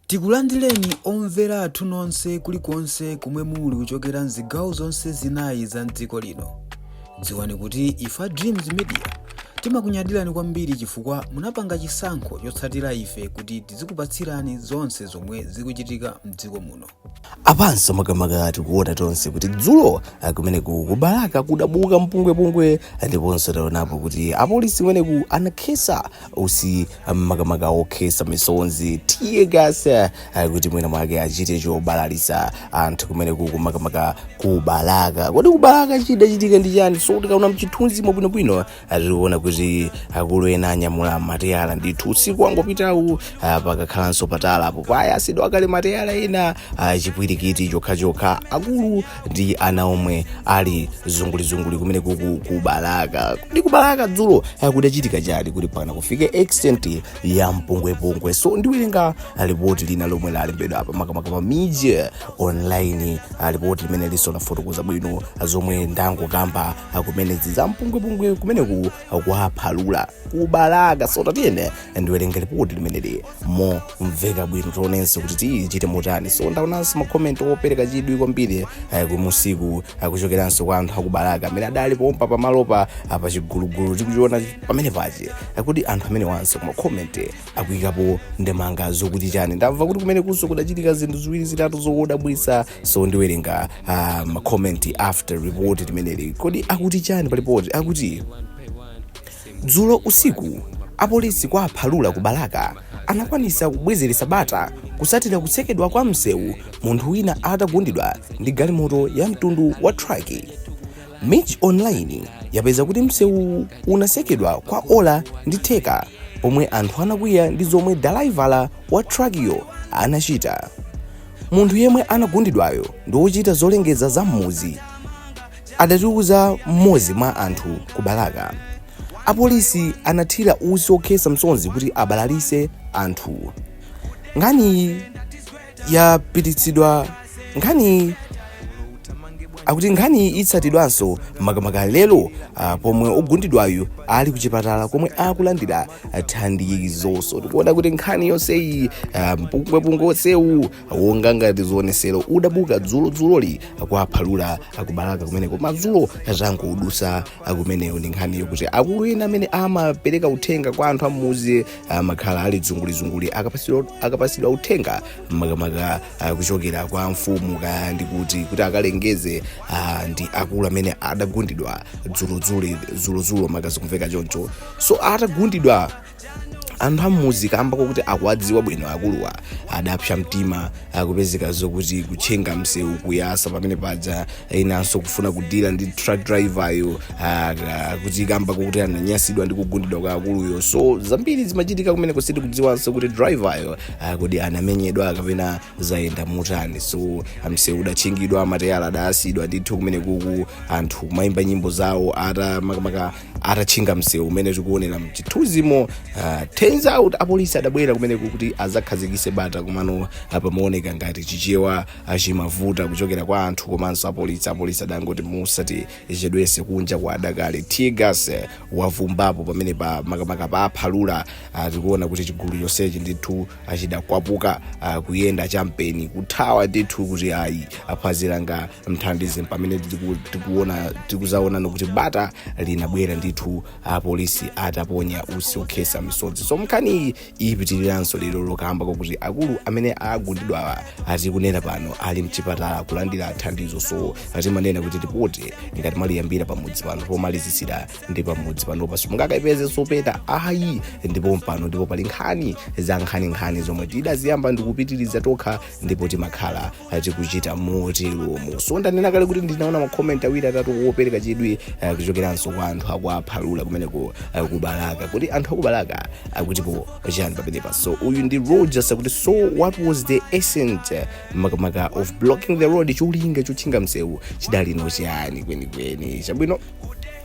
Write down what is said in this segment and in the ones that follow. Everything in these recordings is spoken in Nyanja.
Tikulandileni omvera athu nonse kulikonse komwe muli kuchokera mzigawo zonse zinayi za mdziko lino. Dziwani kuti ife a Dreams Media timakunyadilani kwambiri chifukwa munapanga chisankho chotsatira ife kuti tizikupatsirani zonse zomwe zikuchitika mdziko muno. Apanso makamaka tikuona tonse kuti dzulo kumeneku ku Balaka kudabuka mpungwepungwe ndiponso taonapo kuti apolisi kumeneku anakhesa utsi makamaka okhesa misonzi tiye gasi eh, kuti mwina mwake achite chobalalisa anthu kumeneku ku makamaka ku Balaka kodi ku Balaka chidachitika ndi chani so tikaona mchithunzi mwabwinobwino tikuona kuti akulu ena anyamula mateyala ndithu usiku wangopitawu ah, pakakhalanso patalapo payatsidwa kale mateyala ena ah, chipwirikiti chokhachokha akulu ndi ana omwe ali zungulizunguli kumeneku ku Balaka kodi ku Balaka dzulo akudachitika chani kuti mpaka kufika extent ya mpungwepungwe so ndiwerenga ripoti lina lomwe lalembedwa apa makamaka pa Mij Online ah, ripoti limenelinso lafotokoza bwino zomwe ndangokamba ah, zimenezi za mpungwepungwe kumeneku kwa Phalula ku Balaka so tatiyeni ndiwerenga ripoti limeneli momveka bwino tionenso kuti zichitike motani so ndaonanso makomenti opereka chidwi kwambiri eh, mmunsimu eh, kuchokeranso kwa anthu a ku Balaka amene adali pompo pamalopa ah, pa chigulugulu tikuchiona pamenepa eh, kodi anthu amenewanso kumakomenti akuyikapo ndemanga zokuti chani ndamva kuti kumenekunso kudachitika zinthu ziwiri zitatu zokodabwisa so ndiwerenga ah, makomenti after report limeneli kodi akuti chani pa lipoti akuti Dzulo usiku apolisi kwa Phalula ku Balaka anakwanitsa kubwezeretsa bata kutsatira kutsekedwa kwa mseu munthu wina atagundidwa ndi galimoto ya mtundu wa truck. Mij Online yapeza kuti mseuwu unatsekedwa kwa ola ndi theka pomwe anthu anakwiya ndi zomwe dalaivala wa truck yo anachita. Munthu yemwe anagundidwayo ndi wochita zolengeza za m'mudzi. adatiuza mmodzi mwa anthu ku Balaka. Apolisi anathira utsi okhetsa misonzi kuti abalalitse anthu. Nkhaniyi yapititsidwa nkhani akuti nkhani itsatidwanso makamaka lero ah, pomwe ogundidwayu ali kuchipatala komwe akulandira thandizo so tikuona kuti nkhani yonseyi ah, mpungwepungwe onsewu onga ngati zionesero udabuka dzulodzuloli kwa Phalula ku Balaka kumeneko madzulo angodutsa kumeneyo ndi nkhaniyo kuti akulu ena amene amapereka uthenga kwa anthu a m'mudzi amakhala ali zungulizunguli akapatsidwa- akapatsidwa uthenga makamaka ah, kuchokera kwa mfumu kaya ndi kuti kuti akalengeze ah, ndi akulu amene adagundidwa dzulodzulo dzulodzulo kuma zikumveka choncho so atagundidwa anthu am'mudzi kamba kokuti akuwadziwa bwino akuluwa adapsa mtima kupezeka zokuti kutchinga msewu kuyasa pamene paja enanso kufuna kudila ndi truck driver yo ah, ah, kuti kamba kokuti ananyasidwa ndi kugundidwa kwa akuluyo so zambiri zimachitika kumene ku- sitikudziwanso kuti driver yo ah, kodi anamenyedwa kapena zayenda motani so msewu udatchingidwa mateyala adayasidwa ndithu kumene kuku anthu kumayimba nyimbo zawo ata makamaka atatchinga msewu umene tikuonera mchithunzimo uh, tsono apolisi adabwera kumeneko kuti azakhazikise bata komano pamaoneka ngati chichewa ah, chimavuta kuchokera kwa anthu komanso apolisi apolisi adangoti musatichedwese kunja kwa adakali teargas eh, wavumbapo pamene pa makamaka pa Phalula ah, tikuona kuti chigulu chonsechi ndithu chidakwapuka kuyenda champheni kuthawa ndithu kuti ayi phazi langa ndithandize pamene tiku- tikuona tikuzaonana kuti bata linabwera ndithu apolisi ataponya usi okhesa misozi so nkhani iyi ipitiriranso lero lo kamba kwakuti akulu amene agundidwawa atikunena pano ali mchipatala kulandira thandizo so timanena kuti ripoti ngati maliyambira pamudzi pano pomalizisira ndi pamudzi panopa simungakaipeze ayi ndi pompano ndipo pali nkhani za nkhaninkhani zomwe tidaziyamba ndikupitiriza tokha ndipo timakhala tikuchita moteromo so ndanena kale kuti ndinaona makomenti awiri atatu opereka chidwi eh, kuchokeranso kwa anthu akuPhalula kumeneko eh, kubalaka kuti anthu akubalaka akutipo chani pamenepa so uyu ndi rogers akuti so what was the essence eh, makamaka of blocking the road cholinga chotchinga msewu chidalinso chiyani kwenikweni chabwino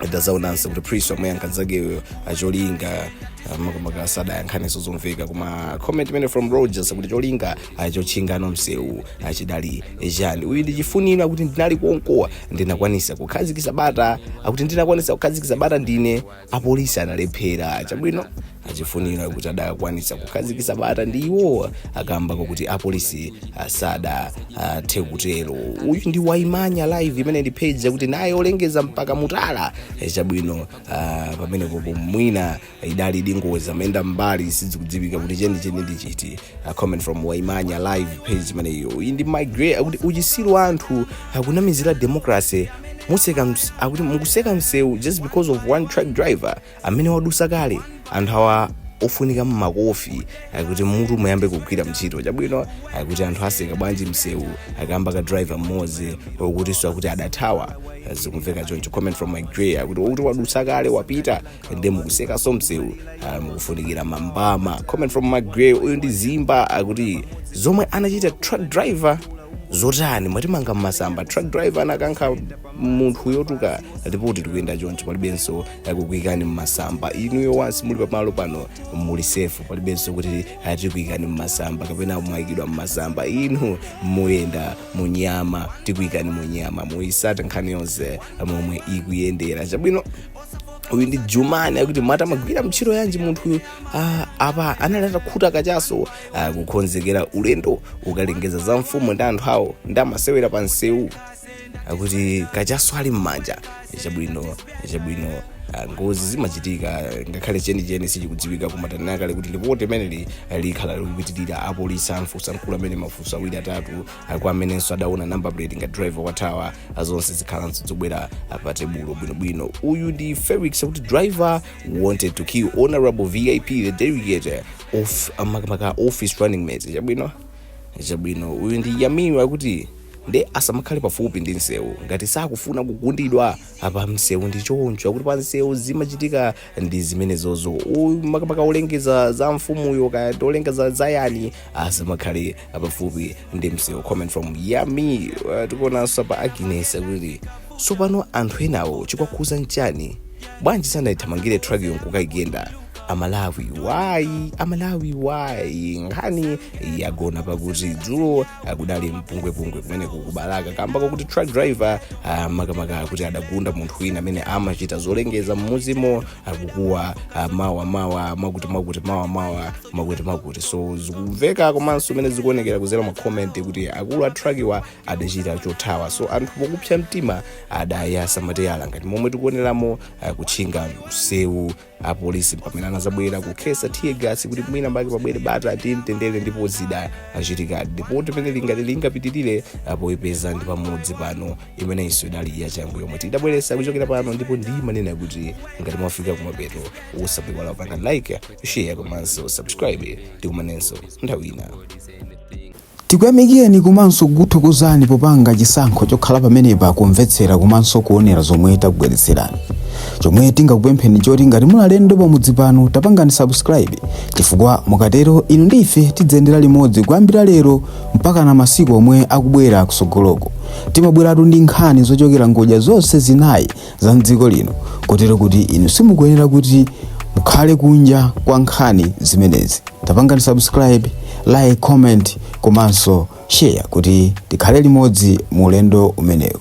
ndazaonanso kuti priest wamuyankha nzakeyo cholinga makamaka sadayankhanenso zomveka koma comment imeneyo from rogers akuti cholinga chotchinganso msewu chidali chani uyu ndi chifuniro akuti ndinali konko ndinakwanisa kukhazikisa bata akuti ndinakwanisa kukhazikisa bata ndine apolisi analephera chabwino achifuniro akuti adakwanitsa kukhazikitsa bata ndi iwowa kamba kokuti apolisi sadathe kutero uyu ndi waimanya live imene ndi page yakuti naye olengeza mpaka mutala Eh, chabwino ah, pamenepo mwina idali ngozi amayenda mbali sizikudziwika kuti chenicheni ndi chiti Ah, comment from waimanya live page imeneyo uyu ndi my gray akuti uchisiru wa anthu akunamizira democracy museka ms- akuti mukuseka msewu just because of one truck driver amene wadusa kale anthu awa ofunika makofi akuti mitu iyambe kugwira ntchito chabwino akuti anthu aseka bwanji msewu kamba ka driver mmodzi okutinso akuti adathawa zikumveka choncho comment from my gray akuti okuti wadutsa kale wapita ndi mukusekanso msewu ah, mukufunikira mambama comment from my gray uyu ndi zimba akuti zomwe anachita truck driver zotani mwatimanga mmasamba truck driver anakankha munthu yotuluka ripoti ikuyenda choncho palibenso kukuikani mmasamba inuyo once muli pamalo pano muli safe palibenso kuti tikuikani mmasamba kapena mwaikidwa mmasamba inu muyenda munyama tikuikani munyama muyitsata nkhani yonse momwe ikuyendera chabwino uyu ndi jumani akuti mati amagwira ntchito yanji munthuyu ah, apa anali atakhuta kachaso ah, kukonzekera ulendo wokalengeza za mfumu ndi anthu awo ndi amasewera pa msewu akuti kachaso ali m'manja chabwino chabwino ah, ngozi zimachitika ngakhale chenicheni sichikudziwika koma tanena kale kuti lipoti limeneli likhala likupitirira apolisi amfusa mkulu amene mafunso awiri atatu ah, kwa amenenso adaona number plate ngati driver wathawa ah, zonse zikhalanso zobwera ah, pa tebulo bwinobwino uyu ndi felix akuti driver wanted to kill honorable vip the delegate of ah, makamaka office running mate chabwino chabwino uyu ndi yami akuti nde asamakhale pafupi ndi msewu ngati sakufuna kugundidwa apa msewu ndi choncho akuti pa msewu zimachitika ndi zimenezozo makamaka olengeza za mfumuyo kaya ndi olengeza za yani asamakhale pafupi ndi msewu comment from yami uh, tikuonanso pa agnes akuti tsopano anthu enawo chikwakhuza nchani bwanji sanayithamangire truckyo nkukaigenda amalawi wayi amalawi wayi nkhani yagona pakuti dzulo kudali mpungwepungwe kumene ku Balaka kamba kwakuti truck driver ah, makamaka akuti adagunda munthu wina amene amachita zolengeza mmudzimo akukuwa ah, mawa mawa mwakuti mwakuti mawa mawa mwakuti mwakuti so zikumveka komanso mene zikuonekera kudzera mma comment kuti akulu a truckiwa adachita chothawa so anthu pokupsa mtima adayasa mateyala ngati momwe tikuoneramo ah, kutchinga msewu apolisi pamene anadzabwera kukhetsa tear gas kuti mwina mbake pabwere bata ndi mtendere ndipo zidachitikadi ndipo mmene lipoti lingapitirire poipeza ndi pamudzi pano imeneyinso idali yachangu yomwe tidabweretsa kuchokera pano ndipo ndimanena kuti ngati mwafika kumapeto osaiwala kupanga like share komanso subscribe tikumanenso nthawi ina Tikuyamikileni komanso kukuthokozani popanga chisankho chokhala pamenepa kumvetsera komanso kuonera zomwe takubweretserani. Chomwe tingakupempheni nchoti ngati muli alendo pamudzi pano tapangani subscribe chifukwa mukatero inu ndi ife tidziyendera limodzi kuyambira lero mpakana masiku omwe akubwera kutsogoloko. Timabweratu ndi nkhani zochokera ngodya zonse zinayi za mdziko lino kotero kuti inu simukuyenera kuti mukhale kunja kwa nkhani zimenezi tapangani subscribe like comment komanso share kuti tikhale limodzi mu ulendo umenewu